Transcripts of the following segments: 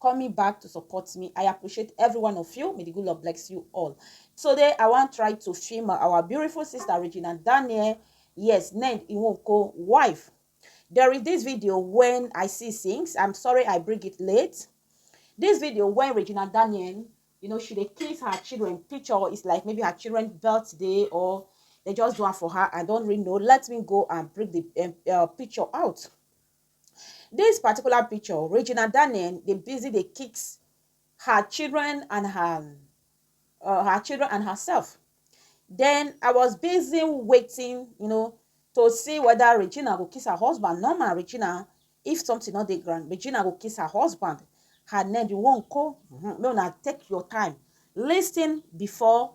coming back to support me i appreciate every one of you may the good lord bless you all today i wan try to film our beautiful sister regina daniel yes ned iwonko wife there is this video when i see things i'm sorry i bring it late this video when regina daniel you know she dey kiss her children picture it's like maybe her children birthday or they just do am for her i don't really know let me go and bring the um, uh, picture out Dis particular picture, Regina Daniel dey busy dey kiss her children and her um her children and herself. Den I was busy waiting you know to see whether Regina go kiss her husband. Normal Regina, if something no dey ground, Regina go kiss her husband. Her name be Nwankwo. um Make una take your time lis ten before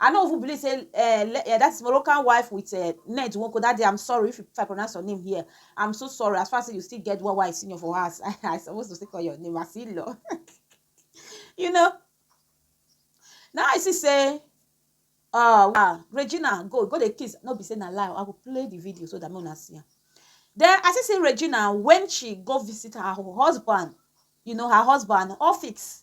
I no even believe say eh, le- eh, that is Moroccan wife with eh, Ned Nwoko that day. I'm sorry if, if I pronounce your name here. I'm so sorry. As far as you still get one wife senior for us, I, I supposed to still call your name as Ilo. you know. Now I see say uh, ah, Regina go go the kiss. No be say na lie. I will play the video so that me una see am. Then I see say Regina when she go visit her husband, you know her husband office.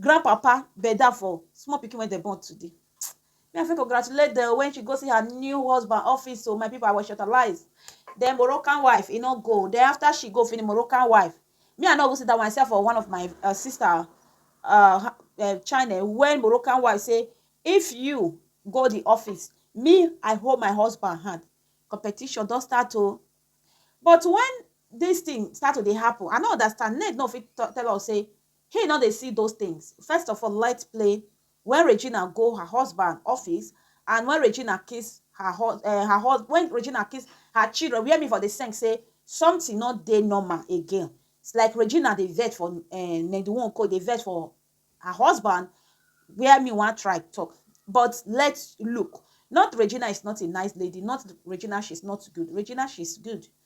Grandpapa bend down for small pikin wey dem born today. Me I fit congratulate dem o when she go see her new husband office o my people I was shortalized then Moroccan wife e no go then after she go finish Moroccan wife me I no even see that one I see am for one of my uh, sister uh, uh, channel when Moroccan wife say if you go the office me I hold my husband hand competition don start o but when this thing start to dey happen I no understand Ned no fit tell us say He no dey see those things. First of all light play when Regina go her husband office and when Regina kiss her hus eh her hus when Regina kiss her children where me for dey seng say something no dey normal again it's like Regina dey vex for eh Nendu Nwoko dey vex for her husband where me wan try talk but let look not Regina is not a nice lady not Regina she's not good Regina she's good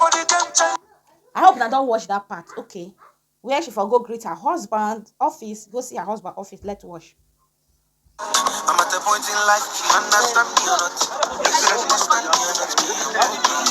I hope na don watch that part. Okay. Where she for go greet her husband office, go see her husband office. Let's watch. I'm at a point in life, she understand me or not. If you understand me or not, me, okay.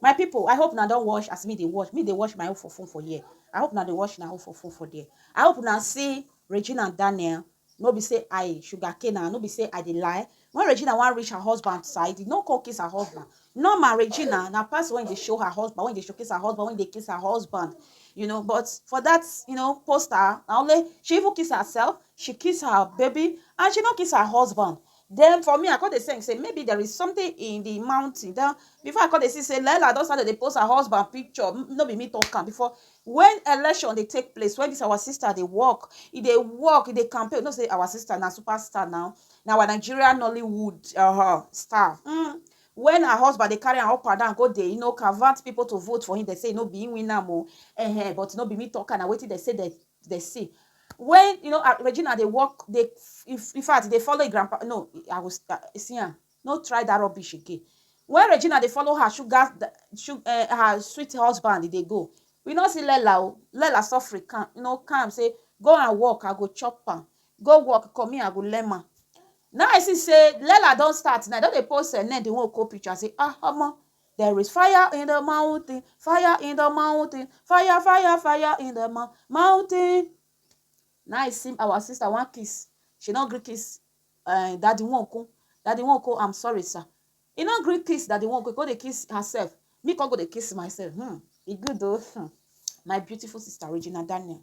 My people, I hope una don watch as me dey watch. Me dey watch my own for phone for here. I hope una dey watch una own for phone for there. I hope una see Regina and Daniel. No be say I sugar cane am, no be say I dey lie. When Regina wan reach her husband side, e no come kiss her husband. Normal Regina na person wey dey show her husband, wey dey showcase her husband, wey dey kiss her husband. You know, but for that, you know, poster, na only she even kiss herself, she kiss her baby, and she no kiss her husband. Then for me, I come dey think say maybe there is something in the mountain. Then before I come dey see say Laila don start to dey post her husband picture. No be me talk am before. When election dey take place, when this our sister dey work, e dey work, e dey campaign. You know say our sister na superstar now. Na our Nigeria Nollywood uh-huh, star. Mm. When her husband dey carry am up and down go dey, you know, convert people to vote for him, they say no be him win am o. Uh-huh, but no be me talk am, na wetin they say they dey see when you know ah, Regina dey work dey in fact dey follow grandpa no I was ah, see am no try that rubbish again when Regina dey follow her sugar eh, her sweet husband dey go we no see Lela o Lela suffer calm you know calm say go and work I go chop am go work come here I go learn am now I see say Lela don start now don dey post her name the one copy picture say ah omo There is fire in the mountain, fire in the mountain, fire, fire, fire in the mou- mountain. Now I see our sister one kiss. She not gree kiss uh, daddy one ko. Daddy one ko, I'm sorry, sir. He not gree kiss daddy one ko. Go dey kiss herself. Me come go dey kiss myself. Hmm. It good though. Hmm. My beautiful sister Regina Daniel.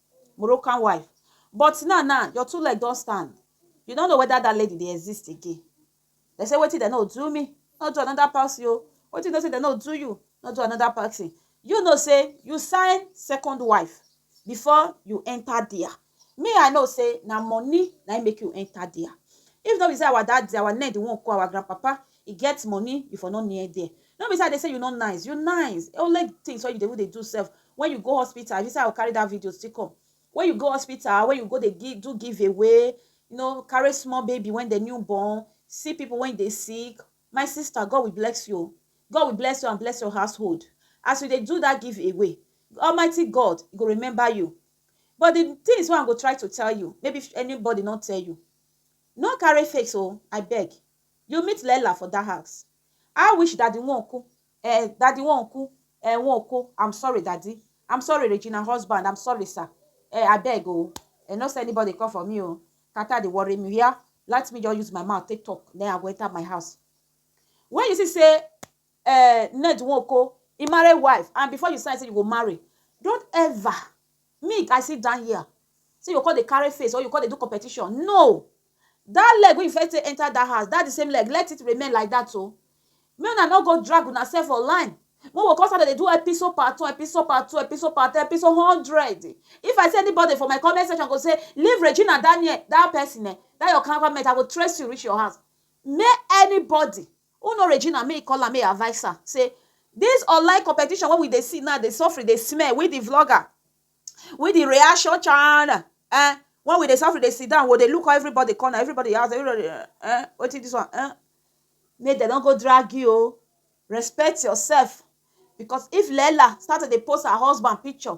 Moroccan wife but now now your two leg don stand you no know whether that lady dey exist again dem say wetin dem no do me no do another person o wetin you know say dem no do you no do another person you know say you sign second wife before you enter there me I know say na money na im make you enter there if no be say our daddy our ned wan call our grandpapa I get money you for no near there no be say I dey say you no nice you nice only things wey you dey even dey do sef when you go hospital if you say I go carry that video still come when you go hospital when you go dey give do give away you know carry small baby when dem new born see people when dey sick my sister God will bless you God will bless you and bless your household as you dey do that give away Almighty God go remember you but the things wey I go try to tell you maybe anybody no tell you no carry face o I beg You meet Leila for that house? I wish daddy won oku eh daddy won oku eh won oko I'm sorry daddy I'm sorry Regina husband I'm sorry sir eh abeg o eh no send anybody come for me o Carter dey worry me where let me just use my mouth take talk then I go enter my house when you see say eh Ned won oko he marry wife and before you sign say you go marry don't ever Me I sit down here say you go come dey carry face or you come dey do competition no that leg wey you first take enter that house that the same leg let it remain like that o make una no go drag una self for line wey we go come start to dey do episode part one episode part two episode part three episode hundred if I see anybody for my comment section go say leave Regina Daniel that person eh that your cow comment I go trace you reach your house May anybody who know Regina may e call am may e advice am say this online competition wey we dey see now dey suffering dey smell we the vlogger we the reaction channel eh when we dey suffering dey sit down we dey look everybody corner everybody house everybody eh wetin this one eh make dem no go drag you o respect yourself because if Leela start to dey post her husband picture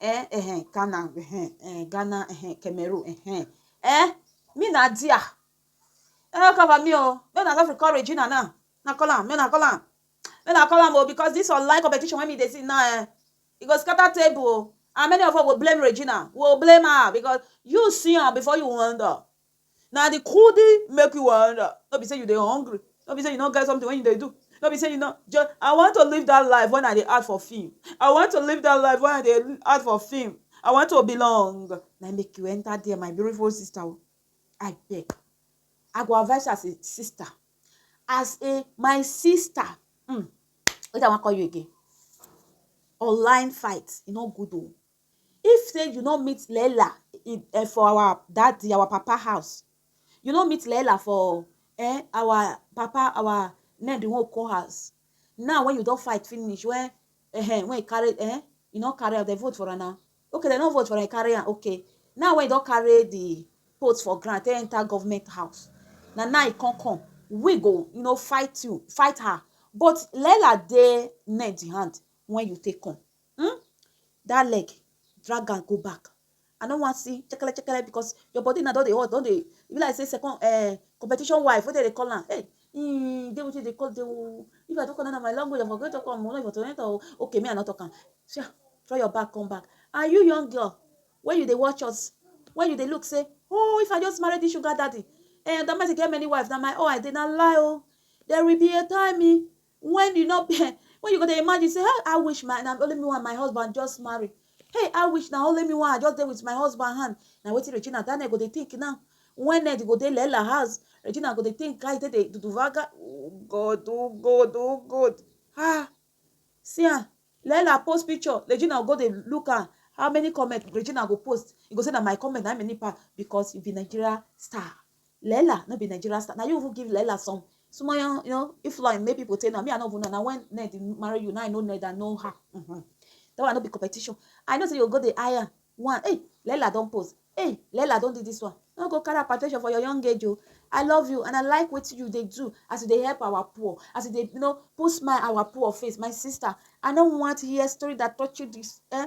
eh eh Ghana eh eh Ghana eh Cameroon eh eh me na dia e no cover me o make una just dey call Regina now na call am make una call am make una call am o because this online competition wey me dey see now eh e go scatter table o and many of us go blame Regina we go blame her because you see am before you wonder na the kudi make you wonder no be say you dey hungry no be say you no get something wey you dey do no be say you no just i want to live that life when i dey act for film i want to live that life when i dey act for film i want to belong na im make you enter there my beautiful sister o abeg i go advise you as a sister as a my sister um wetin i wan call you again online fight e no good o If say you no meet Leela um for our daddy, our papa house, you no meet Leela for um our papa, our name the one we call house. Now when you don fight finish, when um when you carry um you no carry am, they vote for am now. Okay, they no vote for am, you carry am, okay. Now when you don carry the post for ground, take enter government house. Na now you come come. We go, you know, fight you, fight her. But Leela dey men the hand when you take come. um that leg drag am go back i no wan see chekele chekele because your body na don dey hot don dey e be like say second uh, competition wife wey dem dey call am hey mm, dey wetin dey call dey oh. if i don call na my language i for go talk am o no for to enter o okay me i no talk am sha throw your bag come back and you young girl wey you dey watch us wey you dey look say oh if i just marry this sugar daddy eh that man get many wives na my own i dey na lie o oh. there will be a time eh When you no when you go dey imagine say hey I wish my na only me one my husband just marry hey I wish na only me one I just dey with my husband hand na wetin Regina Daniel go dey think now when Ned go dey Lela house Regina go dey think how e take dey duduvaga oh God oh God oh God ah see am Lela post picture Regina go dey look am how many comment Regina go post e go say na my comment na many pass because you be Nigeria star Leela no be Nigerian star. Now you even give Leela some small, you know, if like maybe people say, no, me, I don't even know. Now when Ned marry you, now I know Ned, I know her. Mm -hmm. That one not be competition. I know say you go the higher one. Hey, Leela don't pose. Hey, Leela don't do this one. No go carry attention for your young age, oh. I love you and I like what you they do as they help our poor, as they you know put smile our poor face. My sister, I don't want to hear story that touch you this. Eh?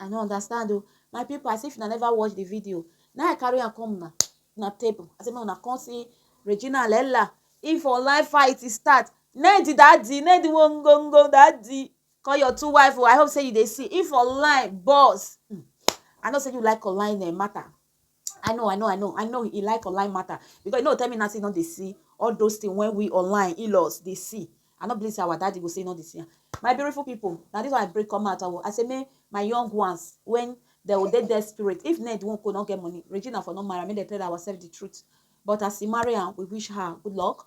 I no understand o. My pipu as if una never watch the video. Now I carry am come una una table. I say make una come see Regina and Ella. If online fight e start, name the daddy, name the wongongo daddy. Call your two wife o. I hope say you dey see. If online boss, hmm, I know say you like online eh, matter. I know, I know, I know, I know he like online matter because you know tell me now say he no dey see all those things when we online in-laws dey see. I no believe say our daddy go say he no dey see am. My beautiful people, na this one I break come out. I, I say make my young ones when they will dey desperate. If Ned won't go, not get money. Regina for not marry, make they tell ourselves the truth. But as he marry am, we wish her good luck.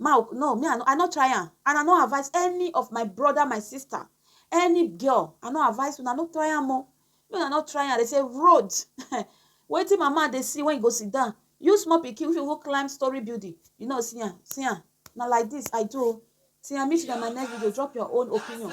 Mauk, No, me I no I no try am and I no advise any of my brother, my sister, any girl, I no advise una no try am o. Make una no try am. They say road wetin mama dey see when you go sit down. You small pikin wey fit even climb story building, you no see am. See am. Na like this I do o. Till I meet you on my next video, drop your own opinion.